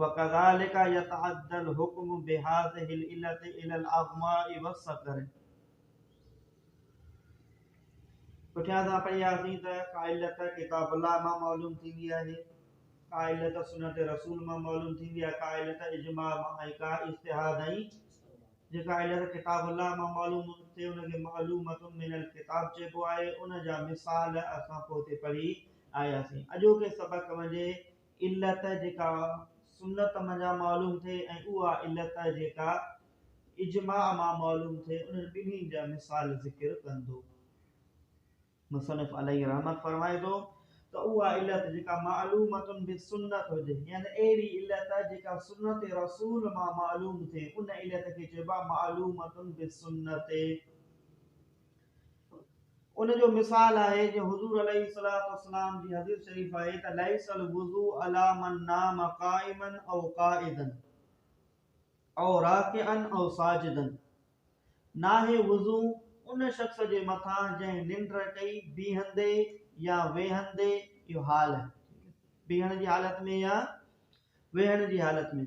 وڪذلک يتعدى الحكم بهذه العلة الى الاغماء والصقر پٺيان اسان پڙهياسين ته ڪا علت ڪتاب الله مان معلوم ٿيندي آهي ڪا علت سنت رسول مان معلوم ٿيندي آهي ڪا علت اجماع مان ۽ ڪا اجتهاد ۽ جيڪا علت ڪتاب الله مان معلوم ٿئي ان کي معلومات من الڪتاب چئبو آهي ان جا مثال اسان پوء تي پڙهي آياسين اڄوڪي سبق ۾ علت جيڪا سنت منجهان معلوم ٿئي ۽ اها علت جيڪا اجماع مان معلوم ٿئي انهن ٻنهي جا مثال ذڪر ڪندو. مصنف عليه رحمت فرمائي ٿو ته اها علت جيڪا معلومة بالسنة هجي يعني اهڙي علت جيڪا سنت رسول مان معلوم ٿئي ان علت کي چئبو آهي معلومة بالسنة. ان جو مثال آهي جيئن حضور عليه الصلوة والسلام جي حديث شريف آهي ته ليس الوضوء علي من نام قائما او قاعدا او راڪعا او ساجدا ناهي وضو ان شخص جي مٿان جنهن ننڊ ڪئي بيهندي يا ويهندي اهو حال آهي بيهڻ جي حالت ۾ يا ويهڻ جي حالت ۾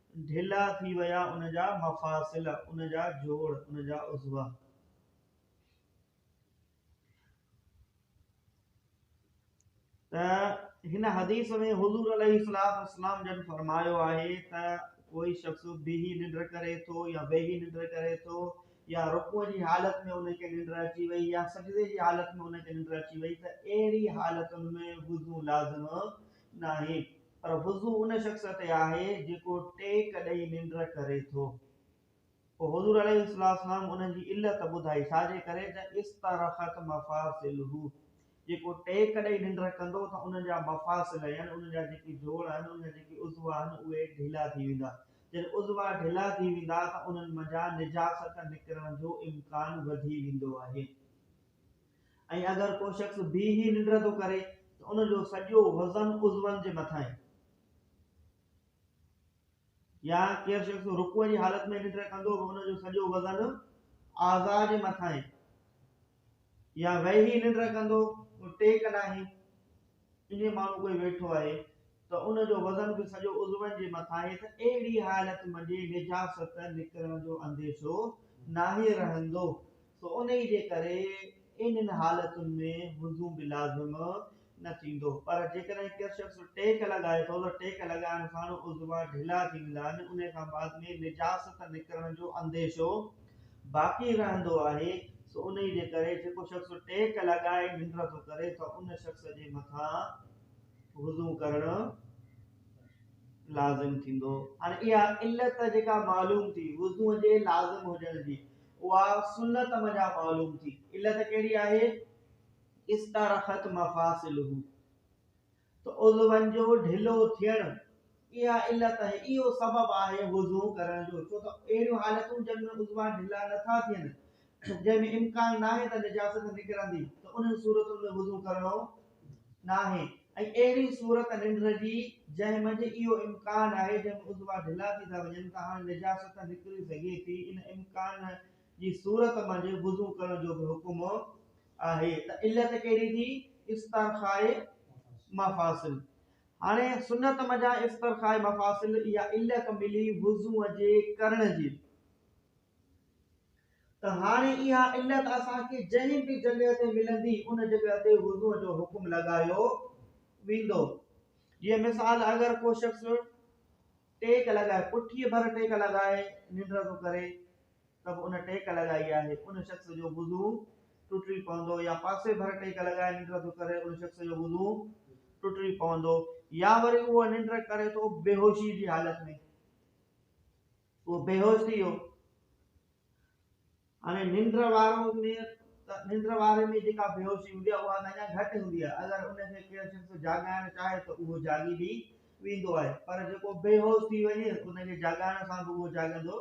ڍلا ٿي ويا ان جا مفاصل، ان جا جوڙ، ان جا عضوا. ته هن حديث ۾ حضور عليه الصلاة والسلام جن فرمايو آهي ته ڪوئي شخص بيهي ننڊ ڪري ٿو يا ويهي ننڊ ڪري ٿو يا رڪوع جي حالت ۾ ان کي ننڊ اچي وئي يا سجدي جي حالت ۾ ان کي ننڊ اچي وئي ته اهڙي حالتن ۾ وضو لازم ناهي پر وضو ان شخص تي آهي جيڪو ٽيڪ ڏئي ننڊ ڪري ٿو. پوء حضور عليه السلام ان جي علت ٻڌائي، ڇاجي ڪري ته استرخت مفاصله، جيڪو ٽيڪ ڏئي ننڊ ڪندو ته ان جا مفاصل يعني ان جا جيڪي جوڙ آهن، ان جا جيڪي عضوا آهن اهي ڍلا ٿي ويندا، جڏهن عضوا ڍلا ٿي ويندا ته انهن منجهان نجاست نڪرڻ جو امڪان وڌي ويندو آهي. ۽ اگر ڪو شخص بيهي ننڊ ٿو ڪري ته ان جو سڄو وزن عضون جي مٿانهين يا ڪير شخص رڪوع جي حالت ۾ ننڊ ڪندو به ان جو سڄو وزن اعضاء جي مٿانهين يا ويهي ننڊ ڪندو ٽيڪ ناهي ڪنھن ماڻھو ڪوئي ويٺو آھي ته ان جو وزن به سڄو عضون جي مٿان آھي ته اھڙي حالت منجھي نجاست نڪرڻ جو انديشو ناھي رھندو سو انھيء جي ڪري انھن حالتن ۾ وضو به لازم نه ٿيندو پر جيڪڏھن ڪير شخص ٽيڪ لڳائي ٿو ته ٽيڪ لڳائڻ ساڻ عضوا ڍلا ٿي ويندا آھن انھيء کان بعد ۾ نجاست نڪرڻ جو انديشو باقي رهندو آهي سو انهي جي ڪري جيڪو شخص ٽيڪ لڳائي ننڊ ٿو ڪري ته ان شخص جي مٿان وضو ڪرڻ لازم ٿيندو. هاڻي اها علت جيڪا معلوم ٿي وضو جي لازم هجڻ جي اها سنت منجهان معلوم ٿي علت ڪهڙي آهي؟ استرخت مفاصله ته عضون جو ڍلو ٿيڻ اها علت ۽ اهو سبب آهي وضو ڪرڻ جو، ڇو ته اهڙيون حالتون جن ۾ عضوا ڍلا نه ٿا ٿين، جنهن ۾ امڪان ناهي ته نجاست نڪرندي، ته انهن صورتن ۾ وضو ڪرڻو ناهي ۽ اهڙي صورت ننڊ جي جنهن منجهه اهو امڪان آهي جنهن ۾ عضوا ڍلا ٿي ٿا وڃن ته هاڻ نجاست نڪري سگهي ٿي، ان امڪان جي صورت منجهه وضو ڪرڻ جو به حڪم آهي ته علت ڪهڙي ٿي استرخاء مفاصل هاڻي سنت منجهان استرخاء مفاصل اها علت ملي وضوء جي ڪرڻ جي ته هاڻي اها علت اسان کي جنهن به جڳهه تي ملندي ان جڳهه تي وضوء جو حڪم لڳايو ويندو جيئن مثال اگر ڪو شخص ٽيڪ لڳائي پٺيء ڀر ٽيڪ لڳائي ننڊ ٿو ڪري ته به ان ٽيڪ لڳائي آهي، ان شخص جو وضوء ٽٽي پوندو يا پاسي ڀر ٽيڪ لڳائي ننڊ ٿو ڪري ان شخص جو وضوء ٽٽي پوندو يا وري اهو ننڊ ڪري ٿو بيهوشي جي حالت ۾ اهو بيهوش ٿي ويو. هاڻي ننڊ وارو ۾ ته ننڊ واري ۾ جيڪا بيهوشي هوندي آهي اها ته اڃا گهٽ هوندي آهي اگر ان کي ڪير شخص جاڳائڻ چاهي ته اهو جاڳي به ويندو آهي پر جيڪو بيهوش ٿي وڃي ان کي جاڳائڻ سان به اهو جاڳندو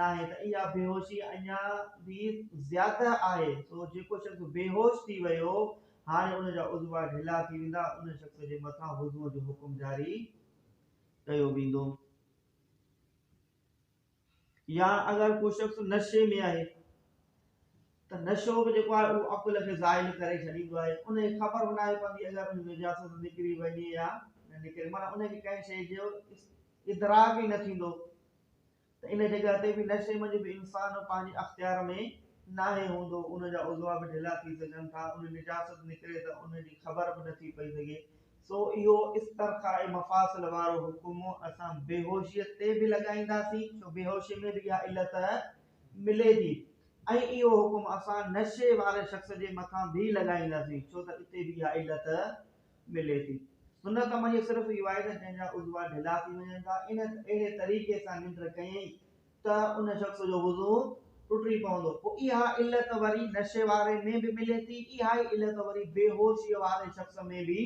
ناهي ته اها بيهوشي اڃا به زياده آهي سو جيڪو شخص بيهوش ٿي ويو هاڻي ان جا عضوا ڍلا ٿي ويندا ان شخص جي مٿان وضوء جو حڪم جاري ڪيو ويندو. يا اگر ڪو شخص نشي ۾ آهي ته نشو به جيڪو آهي اهو عقل کي زائل ڪري ڇڏيندو آهي ان کي خبر به ناهي پوندي اگر ان ۾ نجاست نڪري وڃي يا نه نڪري معنيٰ ان کي ڪنهن شيء جو ادراڪ ئي نه ٿيندو ته ان جڳهه تي به نشي منجهه به انسان پنهنجي اختيار ۾ ناهي هوندو ان جا عضوا به ڍلا ٿي سگهن ٿا ان نجاست نڪري ته ان جي خبر به نه ٿي پئي سگهي سو اهو استرخاء مفاصل وارو حڪم اسان بيهوشيء تي به لڳائينداسين، ڇو بيهوشيء ۾ به اها علت ملي ٿي ۽ اهو حڪم اسان نشي واري شخص جي مٿان به لڳائينداسين، ڇو ته اتي به اها علت ملي ٿي. سنت عمليه صرف اهو آهي ته جنهن جا عضوا ڍلا ٿي وڃن ٿا، انهن اهڙي طريقي سان ننڊ ڪيائين ته ان شخص جو وضو ٽٽي پوندو پوء اها علت وري نشي واري ۾ به ملي ٿي اها ئي علت وري بيهوشي واري شخص ۾ به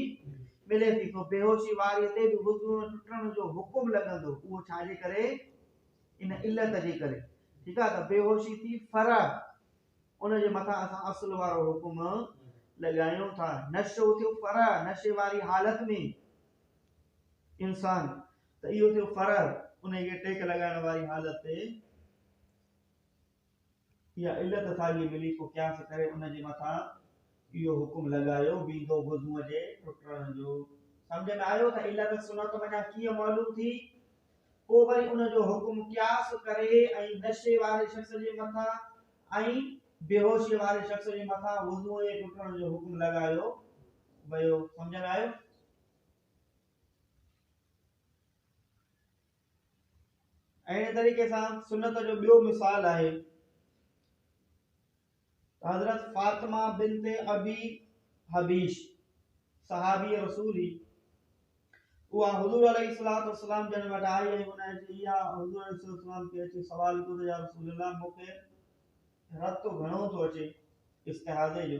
ملي ٿي سو بيهوشي واري تي به وضو ٽٽڻ جو حڪم لڳندو اهو ڇا جي ڪري ان علت جي ڪري ٺيڪ آهي ته بيهوشي ٿي فرع ان جي مٿان اسان اصل وارو حڪم لڳايون ٿا نشو ٿيو فرع نشي واري حالت ۾ انسان ته اهو ٿيو فرع، انهيء کي ٽيڪ لڳائڻ واري حالت تي اها علت ساڳي ملي، پوء قياس ڪري ان جي مٿان اهو حڪم لڳايو ويندو وضوء جي ٽٽڻ جو. سمجهه ۾ آيو ته علت سنت منجهان ڪيئن معلوم ٿي؟ پوء وري ان جو حڪم قياس ڪري ۽ نشي واري شخص جي مٿان ۽ بيهوشي واري شخص جي مٿان وضوء جي ٽٽڻ جو حڪم لڳايو ويو. سمجهه ۾ آيو؟ اهڙي طريقي سان سنت جو ٻيو مثال آهي حضرت فاطمه بنت ابي حبيش صحابي رسول هي اها حضور عليه الصلاه والسلام جن وٽ آئي ۽ ان جي يا حضور عليه الصلاه والسلام کي اچي سوال ڪيو ته يا رسول الله مونکي رت گهڻو ٿو اچي استحاضي جو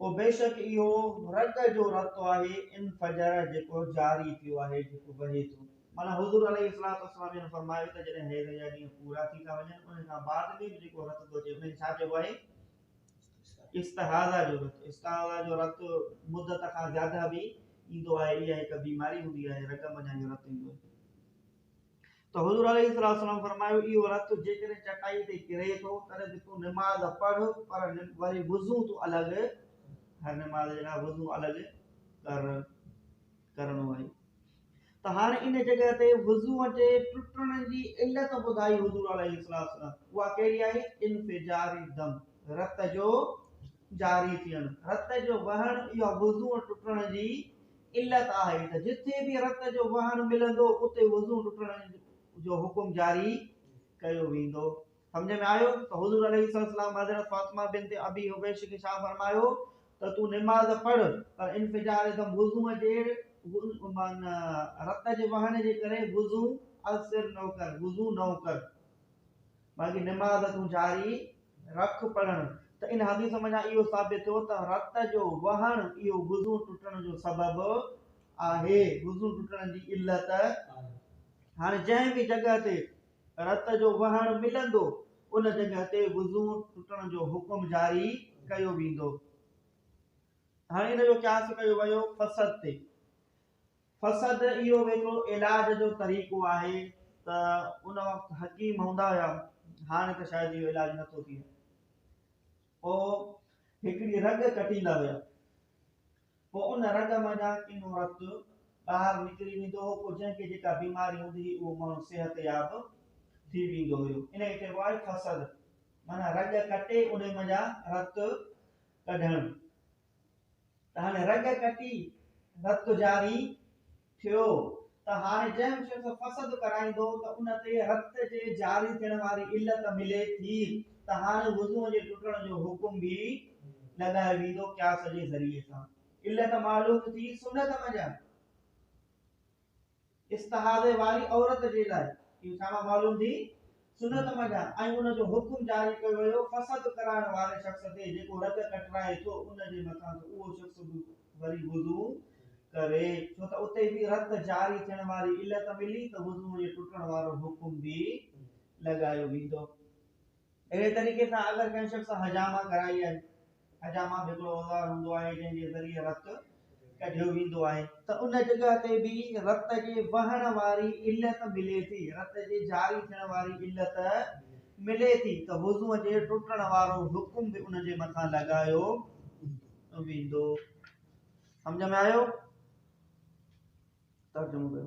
پوء بيشڪ اهو رڳ جو رتو آهي ان فجر جيڪو جاري ٿيو آهي، جيڪو وهي ٿو. معنيٰ حضور عليه الصلوة والسلام جن فرمايو ته جڏهن حيض جا ڏينهن پورا ٿي ٿا وڃن انهي کان بعد ۾ به جيڪو رت ٿو اچي انهي کي ڇا چئبو آهي؟ استحاضه جو رت، استحاضه جو رت مدت کان زياده به ايندو آهي، اها هڪ بيماري هوندي آهي، رڳ منجهان اهو رت ايندو آهي. ته حضور عليه الصلوة والسلام فرمايو، اهو رت جيڪڏهن چٽائيء تي ڪري ٿو، تڏهن ته تون نماز پڙهه، پر وري وضو تون الڳ ڪر، نماز جي لاء وضو الڳ ڪر، ڪرڻو آهي. ته هاڻي ان جڳهه تي وضوء جي ٽٽڻ جي علت ٻڌائي حضور عليه الصلوة والسلام، اها ڪهڙي آهي؟ انفجار الدم، رت جو جاري ٿيڻ، رت جو وهڻ، اها وضوء ٽٽڻ جي علت آهي ته جتي به رت جو وهڻ ملندو اتي وضوء ٽٽڻ جو حڪم جاري ڪيو ويندو. سمجهه ۾ آيو ته حضور عليه السلام حضرت فاطمه بنت ابي حبيش کي ڇا فرمايو ته تون نماز پڙهه پر انفجار دم، وضوء جي رت جي وهڻ جي ڪري وضوء اثر نه ڪر، وضوء نئون ڪر. باقي نماز تون جاري رک پڙهڻ ته ان حديث منجهان اهو ثابت ٿيو ته رت جو وهڻ اهو وضو ٽٽڻ جو سبب آهي وضو ٽٽڻ جي علت هاڻي جنهن به جڳهه تي رت جو وهڻ ملندو ان جڳهه تي وضو ٽٽڻ جو حڪم جاري ڪيو ويندو هاڻي ان جو قياس ڪيو ويو فسد تي فسد اهو هڪڙو علاج جو طريقو آهي ته ان وقت حڪيم هوندا هيا هاڻي ته شايد اهو علاج نه ٿو ٿئي پو هڪڙي رڳ ڪٽيندا هيا پو ان رڳ منجا ڪنو رت ٻاهر نڪري ويندو هو پو جنهن کي جيڪا بيماري هوندي هي اهو ماڻهو صحت ياب ٿي ويندو هيو ان کي چئبو آهي فسد معنيٰ رڳ ڪٽي ان منجا رت ڪڍڻ ته هاڻي رڳ ڪٽي رت جاري ٿيو ته هاڻي جنهن به شخص فسد ڪرائيندو ته ان تي رت جي جاري ٿيڻ واري علت ملي ٿي ته هاڻي وضوء جي ٽٽڻ جو حڪم به لڳايو ويندو قياس جي ذريعي سان علت معلوم ٿي سنت منجهان استحاضي واري عورت جي لاء اهي ڇا معلوم ٿي سنت منجهان ۽ ان جو حڪم جاري ڪيو ويو فسد ڪرائڻ واري شخص تي جيڪو رڳ ڪٽرائي ٿو ان جي مٿان ته اهو شخص به وري وضو ڪري ڇو ته اتي به رت جاري ٿيڻ واري علت ملي ته وضو جي ٽٽڻ وارو حڪم به لڳايو ويندو اهڙي طريقي سان اگر ڪنهن شخص حجامه ڪرائي آهي، حجامه به هڪڙو اوزار هوندو آهي جنهن جي ذريعي رت ڪڍيو ويندو آهي، ته ان جڳهه تي به رت جي وهڻ واري علت ملي ٿي، رت جي جاري ٿيڻ واري علت ملي ٿي ته وضوء جي ٽٽڻ وارو حڪم به ان جي مٿان لڳايو ويندو. سمجهه ۾ آيو؟ ترجمو ڪيو.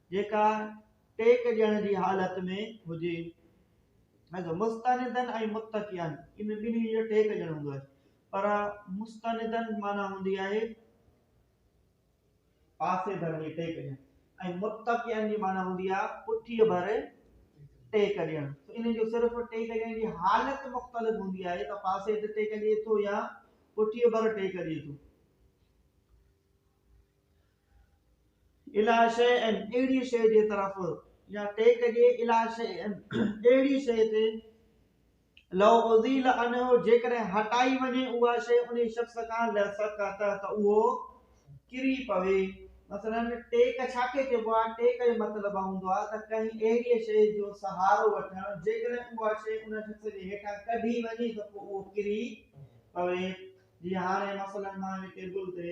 جيڪا ٽيڪ ڏيڻ جي حالت ۾ هجي. مستندن ۽ متڪئا ان ٻنهي جو ٽيڪ ڏيڻ هوندو آهي. پر مستندن معنيٰ هوندي آهي پاسي ڀر ۾ ٽيڪ ڏيڻ ۽ متڪئا جي معنيٰ هوندي آهي پٺيء ڀر ٽيڪ ڏيڻ. ان جو صرف ٽيڪ ڏيڻ جي حالت مختلف هوندي آهي ته پاسي تي ٽيڪ ڏئي ٿو يا پٺيء ڀر ٽيڪ ڏئي ٿو. الا شيء ان، اهڙيء شيء جي طرف، يا ٽيڪ جي الا شيء ان، اهڙيء شيء تي، لو ازيل عنه، جيڪڏهن هٽائي وڃي اها شيء انهي شخص کان لسقط ته اهو ڪري پوي. مثلاً، ٽيڪ ڇا کي چئبو آهي؟ ٽيڪ جو مطلب هوندو آهي ته ڪنهن اهڙيء شيء جو سهارو وٺڻ، جيڪڏهن اها شيء ان شخص جي هيٺان ڪڍي وڃي ته پوء اهو ڪري پوي. جيئن هاڻي مثلاً مان هن ٽيبل تي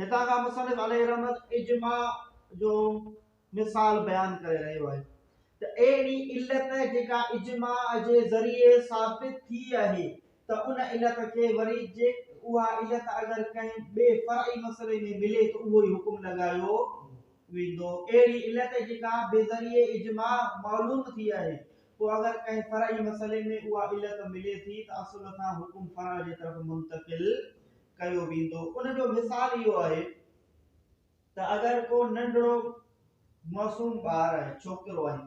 هتان کان مصنف عليه رحمت اجماع جو مثال بيان ڪري رهيو آهي ته اهڙي علت جيڪا اجماع جي ذريعي ثابت ٿي آهي ته ان علت کي وري جي اها علت اگر ڪنهن ٻئي فرعي مسئلي ۾ ملي ته اهو ئي حڪم لڳايو ويندو اهڙي علت جيڪا بذريعي اجماع معلوم ٿي آهي پوء اگر ڪنهن فرعي مسئلي ۾ اها علت ملي ٿي ته اصل کان حڪم فرع جي طرف منتقل ڪيو ويندو ان جو مثال اهو آهي ته اگر ڪو ننڍڙو معصوم ٻار آهي ڇوڪرو آهي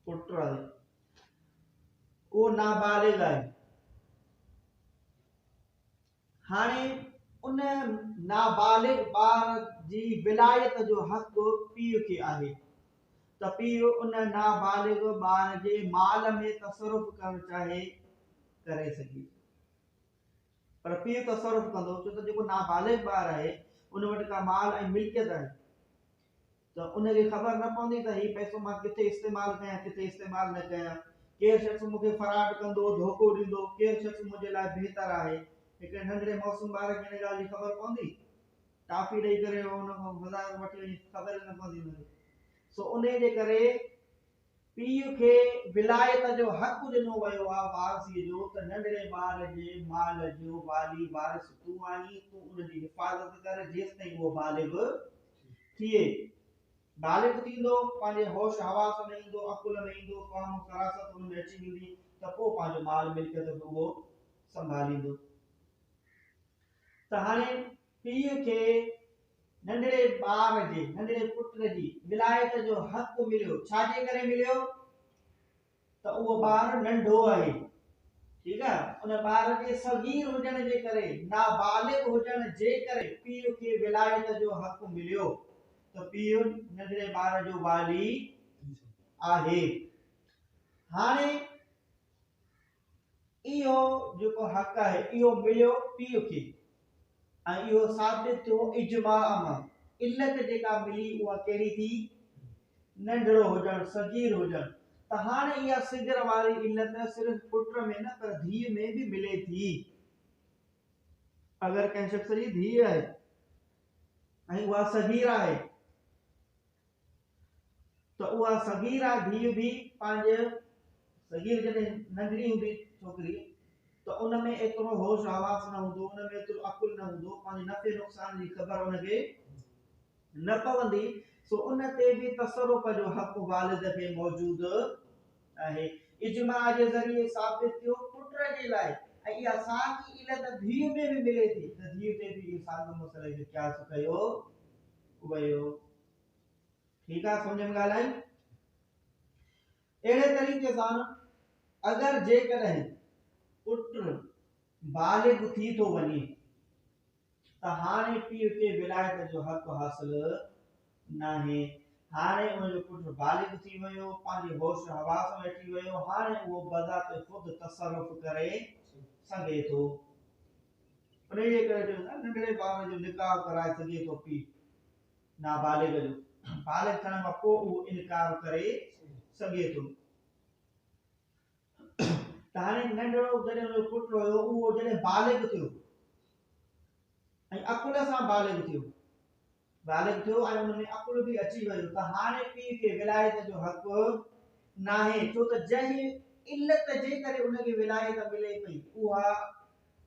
پٽ آهي اهو نابالغ آهي هاڻي ان نابالغ ٻار جي ولايت جو حق پيء کي آهي ته پيء ان نابالغ ٻار جي مال ۾ تصرف ڪرڻ چاهي ڪري سگهي پر پيء تصرف ڪندو ڇو ته جيڪو نابالغ ٻار آهي ان وٽ ڪا مال ۽ ملڪيت آهي ته ان کي خبر نه پوندي ته هي پئسو مان ڪٿي استعمال ڪيان ڪٿي استعمال نه ڪيان ڪير شخص مون کي فراڊ ڪندو ڌوڪو ڏيندو ڪير شخص منهنجي لاء بهتر آهي هڪڙي ننڍڙي معصوم ٻار کي ان ڳالهه جي خبر پوندي ٽافي ڏئي ڪري ان کان وڌائي وٺي وڃي خبر نه پوندي هن کي سو انهي جي ڪري پيء کي ولايت جو حق ڏنو ويو آ وارثيء جو ته ننڍڙي ٻار جي مال جو والي وارث تون آهين، تون ان جي حفاظت ڪر جيستائين اهو بالغ ٿئي. بالغ ٿيندو، پنهنجي هوش حواس ۾ ايندو، عقل ۾ ايندو، فهم و فراست ان ۾ اچي ويندي ته پوء پنهنجو مال ملڪيت به اهو سنڀاليندو. ته هاڻي پيء کي ننڍڙي ٻار جي، ننڍڙي پٽ جي، ولايت جو حق مليو، ڇا جي ڪري مليو؟ ته اهو ٻار ننڍو آهي، ٺيڪ آهي، ان ٻار جي صغير هجڻ جي ڪري، نابالغ هجڻ جي ڪري پيء کي ولايت جو حق مليو، ته پيء ننڍڙي ٻار جو والي آهي. هاڻي اهو جيڪو حق آهي اهو مليو پيء کي ۽ اهو ثابت ٿيو اجماع مان. علت جيڪا ملي اها ڪهڙي ٿي؟ ننڍڙو هجڻ، صغير هجڻ. ته هاڻ اها صغر واري علت صرف پٽ ۾ نه پر ڌيء ۾ به ملي ٿي. اگر ڪنهن شخص جي ڌيء آهي ۽ اها صغير آهي. ته اها صغيره ڌيء به پنهنجي صغيره جڏهن ننڍڙي هوندي ڇوڪري ته ان ۾ ايترو هوش حواس نه هوندو ان ۾ ايترو عقل نه هوندو پنهنجي نفعي نقصان جي خبر ان کي نه پوندي سو ان تي به تصرف جو حق والد کي موجود آهي اجماع جي ذريعي ثابت ٿيو پٽ جي لاء ۽ اها ساڳي علت ڌيء ۾ به ملي ٿي ته ڌيء تي به اهو ساڳيو مسئلو جو قياس ڪيو ويو ٺيڪ آ سمجهه ۾ ڳالهه آئي اهڙي طريقي سان اگر جيڪڏهن پٽ بالغ ٿي ٿو وڃي ته هاڻي پيء کي ولايت جو حق حاصل ناهي هاڻي ان جو پٽ بالغ ٿي ويو پنهنجي هوش حواس ۾ اچي ويو هاڻي اهو بذات خود تصرف ڪري سگهي ٿو ان جي ڪري ننڍڙي ٻار جو نڪاح ڪرائي سگهي ٿو پيء نابالغ جو بالغ ٿيڻ کان پوء اهو انڪار ڪري سگهي ٿو. ته هاڻي ننڍڙو جڏهن ان جو پٽ هيو اهو جڏهن بالغ ٿيو ۽ عقل سان بالغ ٿيو بالغ ٿيو ۽ ان ۾ عقل به اچي ويو ته هاڻي پيء کي ولايت جو حق ناهي ڇو ته جنهن علت جي ڪري ان کي ولايت ملي پئي اها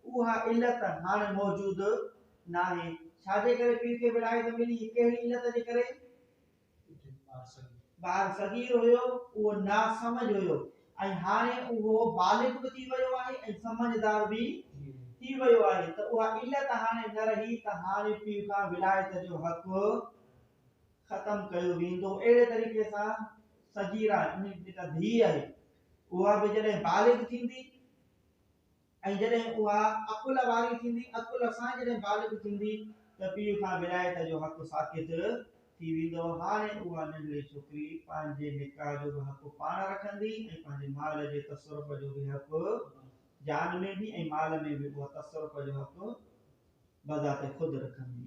اها علت هاڻ موجود ناهي. ڇا جي ڪري پير کي ولايت ملي هي ڪهڙي علت جي ڪري؟ ٻار صغير هيو اهو نا سمجھ هيو ۽ هاڻي اهو بالغ به ٿي ويو آهي ۽ سمجھدار به ٿي ويو آهي ته اها علت هاڻي نه رهي ته هاڻي پير کان ولايت جو حق ختم ڪيو ويندو اهڙي طريقي سان صغيرا يعني جيڪا ڌيء آهي اها به جڏهن بالغ ٿيندي ۽ جڏهن اها عقل واري ٿيندي، عقل سان جڏهن بالغ ٿيندي ته پيء کان ولايت جو حق ساقط ٿي ويندو. هاڻي اها ننڍڙي ڇوڪري پنهنجي نڪاح جو به حق پاڻ رکندي ۽ پنهنجي مال جي تصرف جو به حق، جان ۾ به ۽ مال ۾ به اها تصرف جو حق بذات خود رکندي.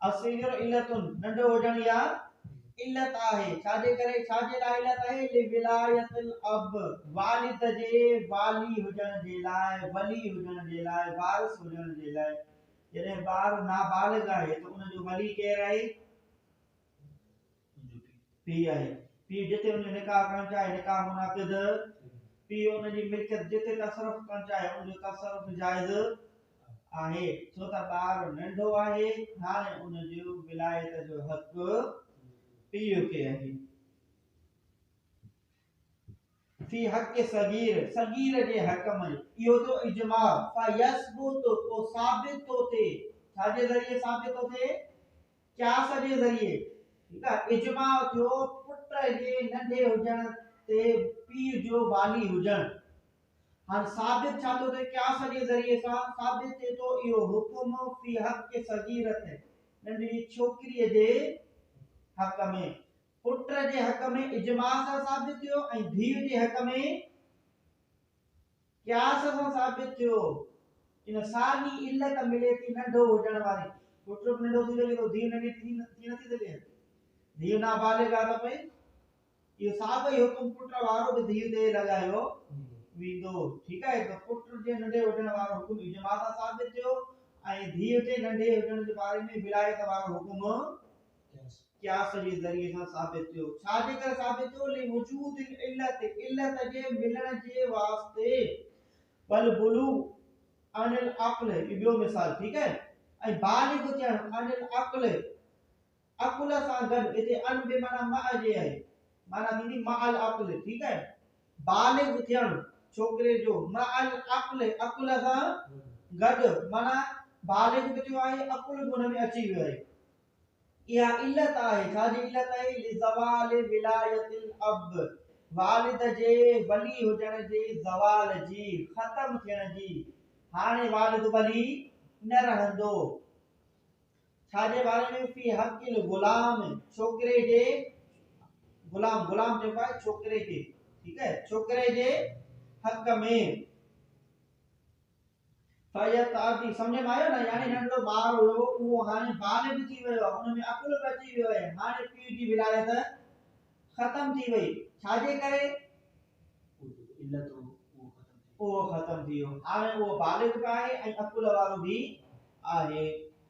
الصغير علت ننڍو هجڻ يا علت آهي ڇا جي ڪري ڇا جي لاء علت آهي لولايت الاب والد جي والي هجڻ جي لاء ولي هجڻ جي لاء وارث هجڻ جي لاء جڏهن ٻار نابالغ آهي ته ان جو ولي ڪير آهي پيء آهي. پيء جتي ان جو نڪاح ڪرڻ چاهي، نڪاح منعقد. پيء ان جي ملڪيت جتي تصرف ڪرڻ چاهي، ان جو تصرف جائز آهي، ڇو ته ٻار ننڍو آهي، هاڻي ان جي ولايت جو حق پيء کي آهي. في حق صغير، صغير جي حق ۾، اهو جو اجماع، فيثبت، پوء ثابت ٿو ٿئي، ڇا جي ذريعي ثابت ٿو ٿئي؟ قياس جي ذريعي، ٺيڪ آ، اجماع ٿيو پٽ جي ننڍي هجڻ تي پيء جو والي هجڻ، هاڻ ثابت ڇا ٿو ٿئي؟ قياس جي ذريعي سان ثابت ٿئي ٿو اهو حڪم في حق صغيرة، ننڍڙي ڇوڪريء جي حق ۾، پٽ جي حق ۾ اجماع سان ثابت ٿيو ۽ ڌيء جي حق ۾ قياس سان ثابت ٿيو ان ساڳي علت ملي ٿي ننڍو هجڻ واري پٽ به ننڍو ٿي سگهي ٿو ڌيء ننڍي ٿي نه ٿي سگهي ڌيء نابالغ آهي ته پئي اهو ساڳو ئي حڪم پٽ وارو به ڌيء تي لڳايو ويندو ٺيڪ آهي ته پٽ جي ننڍي هجڻ وارو حڪم اجماع سان ثابت ٿيو ۽ ڌيء جي ننڍي هجڻ جي باري ۾ ولايت وارو حڪم قياس جي ذريعي سان ثابت ٿيو. ڇا جي ڪري ثابت ٿيو؟ لوجود العلت، علت جي ملڻ جي واسطي. والبلوغ عن العقل، هي ٻيو مثال ٺيڪ آهي. ۽ بالغ ٿيڻ عن العقل، عقل سان گڏ هتي ان به معنی مع جي آهي. معنی ٿيندي مع العقل ٺيڪ آهي. بالغ ٿيڻ ڇوڪري جو مع العقل عقل سان گڏ معنی بالغ به ٿيو آهي عقل به ان ۾ اچي ويو آهي. اها علت آهي، ڇا جي علت آهي؟ لزوال ولايت الاب، والد جي ولي هجڻ جي زوال جي، ختم ٿيڻ جي. هاڻي والد ولي نه رهندو، ڇا جي باري ۾ في حق الغلام، ڇوڪري جي غلام، غلام چئبو آهي ڇوڪري کي، ٺيڪ آهي، ڇوڪري جي حق ۾. فيض عابدي، سمجهه ۾ آيو نه؟ يعني ننڍڙو ٻار هيو، اهو هاڻي بالغ ٿي ويو آهي، ان ۾ عقل به اچي ويو آهي، هاڻي پيء جي ولايت ختم ٿي وئي، ڇا جي ڪري؟ علت هو، اهو ختم ٿي ويو، هاڻي اهو بالغ به آهي ۽ عقل وارو به آهي،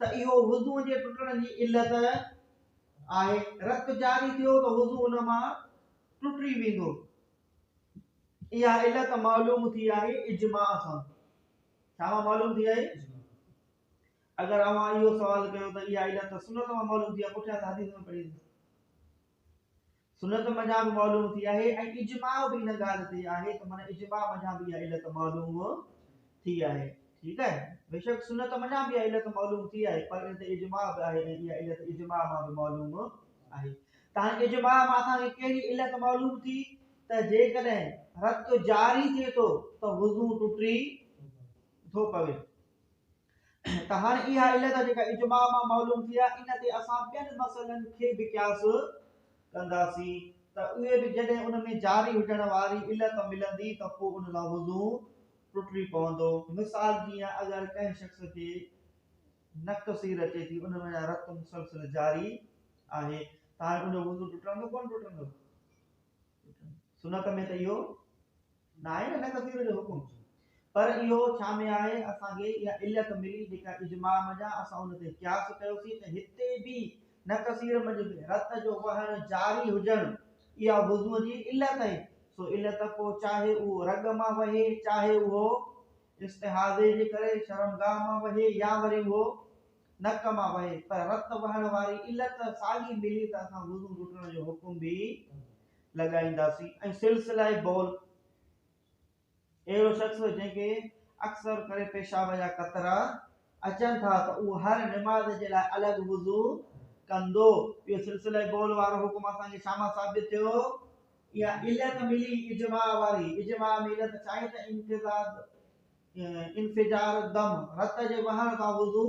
ته اهو وضوء جي ٽٽڻ جي علت آهي، رت جاري ٿيو ته وضوء ان مان ٽٽي ويندو، اها علت معلوم ٿي آهي اجماع سان، ڇا مان معلوم ٿي آهي؟ اگر اوهان اهو سوال ڪيو ته اها علت سنت مان معلوم ٿي آهي، پٺيان حديث ۾ پڙهي سنت منجهان به معلوم ٿي آهي ۽ اجماع به ان ڳالهه تي آهي ته معنيٰ اجماع منجهان به اها علت معلوم ٿي آهي ٺيڪ آهي بيشڪ سنت منجهان به اها علت معلوم ٿي آهي پر ان تي اجماع به آهي ۽ اها علت اجماع مان به معلوم آهي ته هاڻي اجماع مان اسان کي ڪهڙي علت معلوم ٿي ته جيڪڏهن رت جاري ٿئي ٿو ته وضو ٽٽي ٿو پوي ته هاڻي اها علت جيڪا اجماع مان معلوم ٿئي ها، ان تي اسان ٻين مسئلن کي به قياس ڪنداسين ته اهي به جڏهن ان ۾ جاري هجڻ واري علت ملندي ته پوء ان لاء وضو ٽٽي پوندو. مثال جيئن اگر ڪنهن شخص کي نڪ سير اچي ٿي، ان وڃان رت مسلسل جاري آهي ته هاڻي ان جو وضو ٽٽندو ڪونه ٽٽندو؟ سنت ۾ ته اهو ناهي نه ڪثير جو حڪم پر اهو ڇا ۾ آهي اسان کي اها علت ملي جيڪا اجماع منجهان اسان ان تي قياس ڪيوسين ته هتي به نه ڪثير منجهه به رت جو وهڻ جاري هجڻ اها وضو جي علت آهي سو علت پوء چاهي اهو رڳ مان وهي چاهي اهو استحاضي جي ڪري شرمگاهه مان وهي يا وري اهو نڪ مان وهي، پر رت وهڻ واري علت ساڳي ملي ته اسان وضو ٽٽڻ جو حڪم به لڳائينداسين ۽ سلسله بول اهڙو شخص جنهن کي اڪثر ڪري پيشاب جا قطرا اچن ٿا ته اهو هر نماز جي لاء الڳ وضو ڪندو اهو سلسله بول وارو حڪم اسان کي شاما ثابت ٿيو اها علت ملي اجماع واري اجماع ۾ علت ڇا آهي ته امتزاج انفجار الدم، رت جي وهڻ سان وضو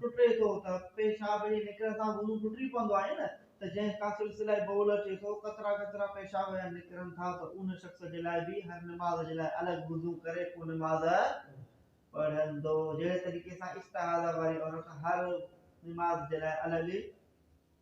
ٽٽي ٿو ته پيشاب جي نڪرڻ سان وضو ٽٽي پوندو آهي نه ته جنهن کان سلسله بول اچي ٿو قطرا قطرا پيشاب جا نڪرن ٿا ته ان شخص جي لاء به هر نماز جي لاء الڳ وضو ڪري پوء نماز پڙهندو جهڙي طريقي سان استحاضه واري عورت هر نماز جي لاء الڳ